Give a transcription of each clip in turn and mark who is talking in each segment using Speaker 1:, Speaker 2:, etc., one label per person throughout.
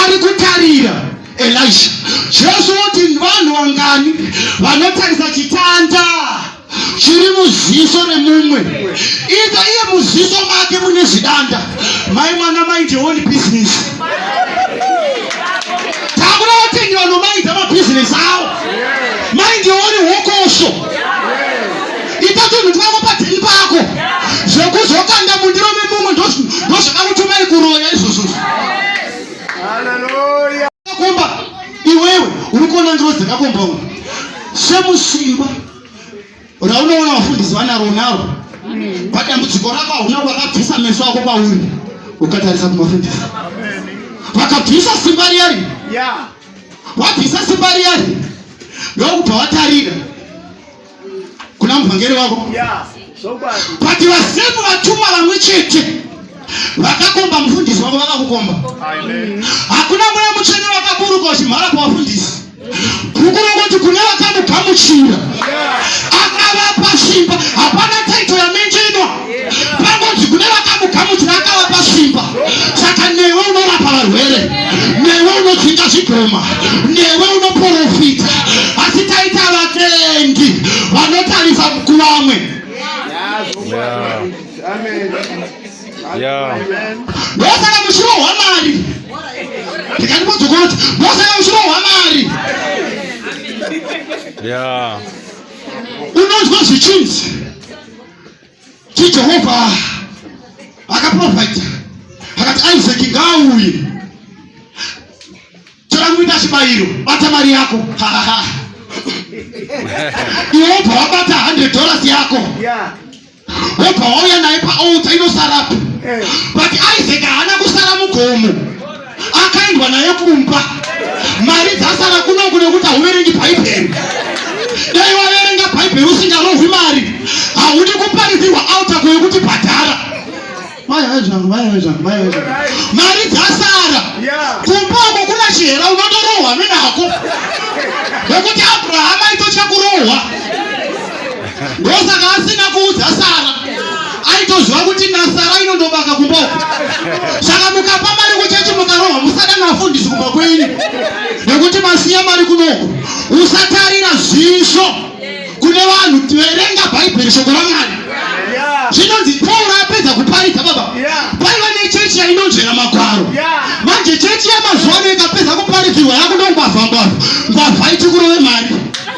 Speaker 1: ari kutarira elisha jesu woti vanhu vangani vanotarisa chitanda chiri muziso remumwe iza iye muziso make mune zvidanda mai mwana maite one business takura vatengi vanomaita mabhizinesi avo maite one hokosho ita tunhu twako padziri pako zvekuzokanda mundiro memumwe ndozvakakutumai kuroya izvozvo
Speaker 2: kumba
Speaker 1: iwewe uri kuona ndiro dzakakomba u semusimba raunoona vafundisi vanaro naro padambudziko rako hauna vakabvisa meso ako pauri ukatarisa kumafundisi vakabvisa simba riyari wabvisa simba riyari ndokubva watarira kuna muvhangeri wavo pati vasemu vatumwa vamwe chete vakakomba mufundisi wavo vakakukomba hakuna mweya mutsvene wakaburuka uchimhara pavafundisi kukurongoti kune vakamugamuchira akavapa simba hapana pangonzi kune vakamugamuchira akavapa simba saka newe unorapa varwere newe unodzinga zvigoma newe unoprofita asi taita vatendi vanotarisa kuvamwe ndosaka mushiro hwamari ndikandipodzokoti ndosaka mushiro hwamari unonzwa zvichinzi chijehovha akaprofita akati isaac ngaauye tora muita chibayiro bata mari yako iwe wobva wabata 100 dollars yako wobva wauya naye paota inosarapo eh. but isaac haana kusara mugomo akaendwa naye kumba mari dzasara kunoku nekuti hauverengi bhaibheri dai waverenga bhaibheri usingarohwi mari haudi kuparidzirwa autako yekuti bhadhara mari dzasara kumba uko kuna chihera unotorohwa menako nekuti abrahama aitotya kurohwa ndosaka asina kuudza sara aitoziva kuti nasara inondobaka kumboko saka mukapa mari kuchechi mukarohwa musada navafundisi kumba kwenyu nekuti masiya mari kunoko usatarira zvisvo kune vanhu verenga bhaibheri shoko ramwari zvinonzi pauro apedza kuparidza baba paiva nechechi yainonzvera magwaro manje chechi yamazuva ano ikapedza kuparidzirwa yakundongwavha ngwavha ngwavha ichikurove mari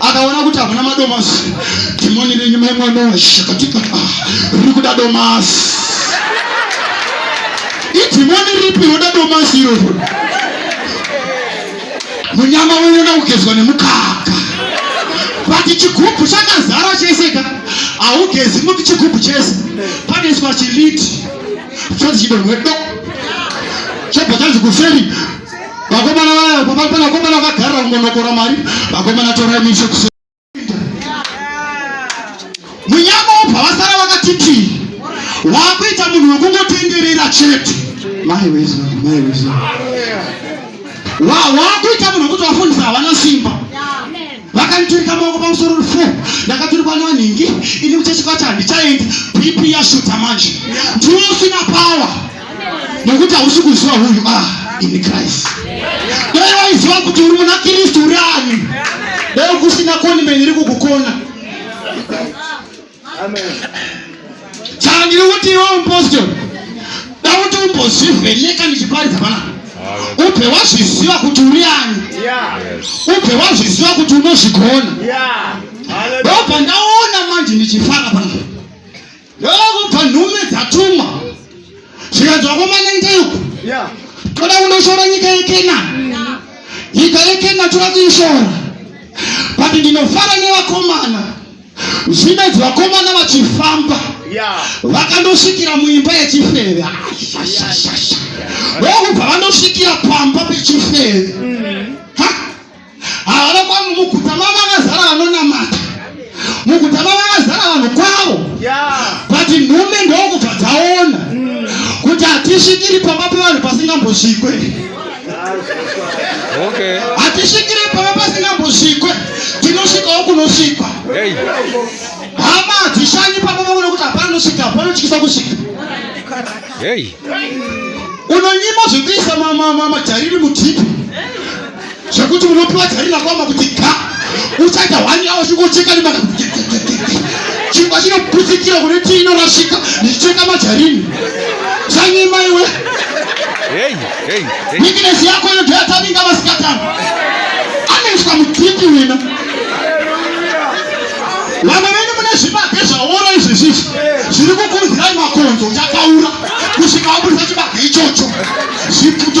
Speaker 1: akaona kuti hamuna madomasi dhimoni renyu mai mwana shakatika riri kuda domasi idhimoni ripi roda domasi iroro munyama unoda kugezwa nemukaka vati chigubhu chakazara chese ka haugezi muti chigubhu chese panoiswa chiliti chonzi chidonwe do chobva chanzi kuferi vakomana vaya vakomana vagarira kungonokora mari vakomana torai mishe kuseri munyama wobva vasara vakati tii waakuita munhu wekungotenderera chete mai weza mai weza waakuita munhu wekuti vafundisa havana simba vakanditurika maoko pamusoro rufu ndakaturikwa nevanhingi ini muchechikwacho handichaendi bp yashuta manje ndiwe usina pawa nekuti hausi kuziva huyu a ah, ini christ dai waiziva kuti uri muna kristu uri ani dai kusina koni meni iri kukukona saka ndiri kuti iwe upostori dauti umbozvivheneka ndichiparidza panapa ubve wazviziva kuti uri ani ubve wazviziva kuti unozvigona ndobva ndaona manje ndichifara panapa ndokubva nhume dzatumwa zvikanzwa komanenge uku toda kunoshora nyika yekenani nyika yekenani toda kuishora but ndinofara nevakomana zvino idzi vakomana vachifamba vakandosvikira muimba yechifeve ndokubva vanosvikira pamba pechifeve mm. havana kwavo muguta mavo vakazara vanonamata muguta mavo vakazara vanhu kwavo but nhume ndokubva dzaona mm. kuti hatisvikiri pamba pevanhu pasingambosvikwe
Speaker 2: Okay. Hatisvikire pava
Speaker 1: pasingambosvikwe, tinosvikawo kunosvikwa. Hey. Hama hadzishanyi papa vaona kuti hapana nosvika, hapana chikisa kusvika. Hey. Unonyima zvekuisa majariri mutipi zvekuti unopiwa jariri rakwama kuti ga uchaita hwani yawo zvingocheka nemaka chingwa chinoputsikira kune tii inorasika ndichicheka majarini zvanyima iwe hey. Weakness yako ino ndiyo yatavinga vasikatani. Anoiswa mutipi wena. Vamwe venyu mune zvibage zvaora izvi zvizvi zviri kukuzirai makonzo chakaura kusvika waburitsa chibage ichocho. Zvipfuto